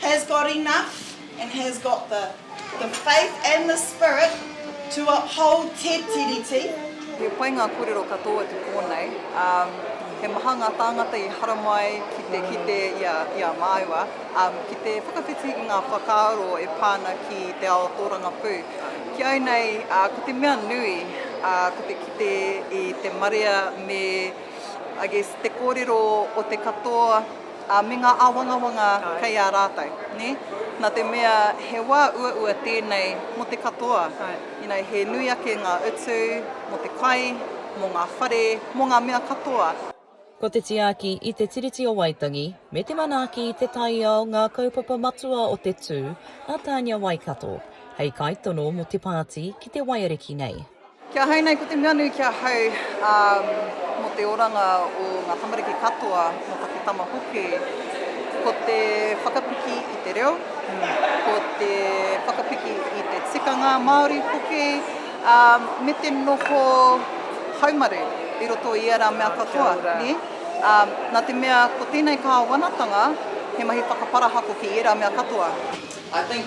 has got enough and has got the the faith and the spirit to uphold Te Tiriti. He pai ngā kōrero katoa ki kōnei. He maha ngā tāngata i haramai ki te kite i a māua, ki te whakawhiti i ngā whakaaro e pā ana ki te ao tōrangapū. Ki au nei, ko te mea nui, ko te kite i te marea me, I guess, te kōrero o te katoa, Ā, me ngā āwangawanga kei a rātou, nē? Nā te mea he wā uaua tēnei mō te katoa, you know, he nui ake ngā utu mō te kai, mō ngā whare, mō ngā mea katoa. Ko te tiaki i te Tiriti o Waitangi me te manaaki i te taiao ngā kaupapa matua o te tū a Tania Waikato hei kaitono mō te pāti ki te waiariki nei. Kia hau nei ko te mea nui ki ahau mo te oranga o nga tamariki katoa mo taku tama hoki, ko te whakapiki i te reo, ko te whakapiki i te tikanga Maori hoki, me te noho haumaru i roto i era mea katoa, ne? Na te mea ko tenei kawanatanga he mahi whakaparahako ki era mea katoa. I think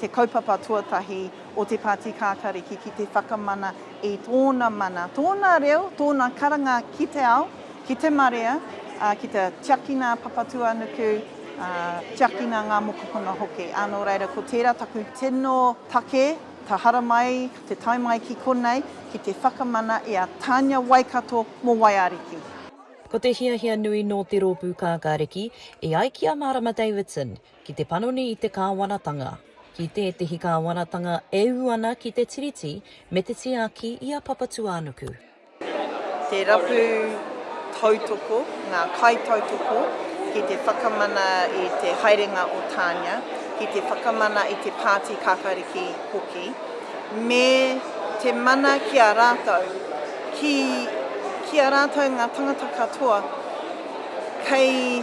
te kaupapa tuatahi o te Pāti Kākāriki ki te whakamana i tōna mana, tōna reo, tōna karanga ki te ao, ki te marea, ā, ki te tiakina a Papatūānuku, ā, tiakina ngā mokopuna hoki. Ā, nō reira, ko tērā taku tino take, ka haramai te tae mai ki konei, ki te whakamana i a Tānia Waikato mō Waiariki. Ko te hiahia nui nō te Rōpū Kākāriki, e ai ki a Mārama Davidson, Ki te panoni i te Kāwanatanga. Ki tētehi Kāwanatanga e ū ana ki te Tiriti me te tiaki i a Papatūānuku. Te rapu tautoko, ngā kaitautoko ki te whakamana i te haerenga o Tānia, ki te whakamana i te Pāti Kākāriki hoki, me te mana ki a rātou, ki, ki a rātou ngā tangata katoa kei.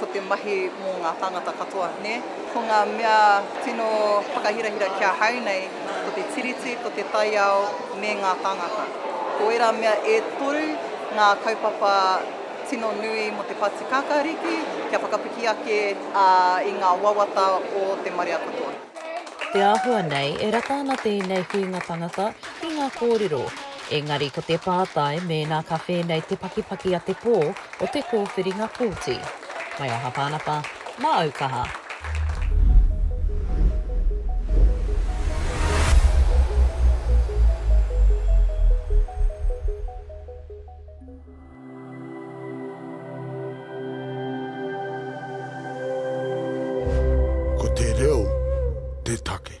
Ko te mahi mō ngā tāngata katoa, nē? Ko ngā mea tino whakahirahira ki ahau nei, ko te Tiriti, ko te taiao, me ngā tāngata. Ko ērā mea e toru ngā kaupapa tino nui mō te Pāti Kākāriki kia whakapiki ake i ngā wawata o te marea katoa. Te āhua nei, e rata ana tēnei whiunga tangata ki ngā kōrero, engari ko te pātai mēnā ka whēnei te pakipaki a te pō o te kōwhiringa pōti. Mai aha Pānapa, mā au kaha. Ko te reo te take.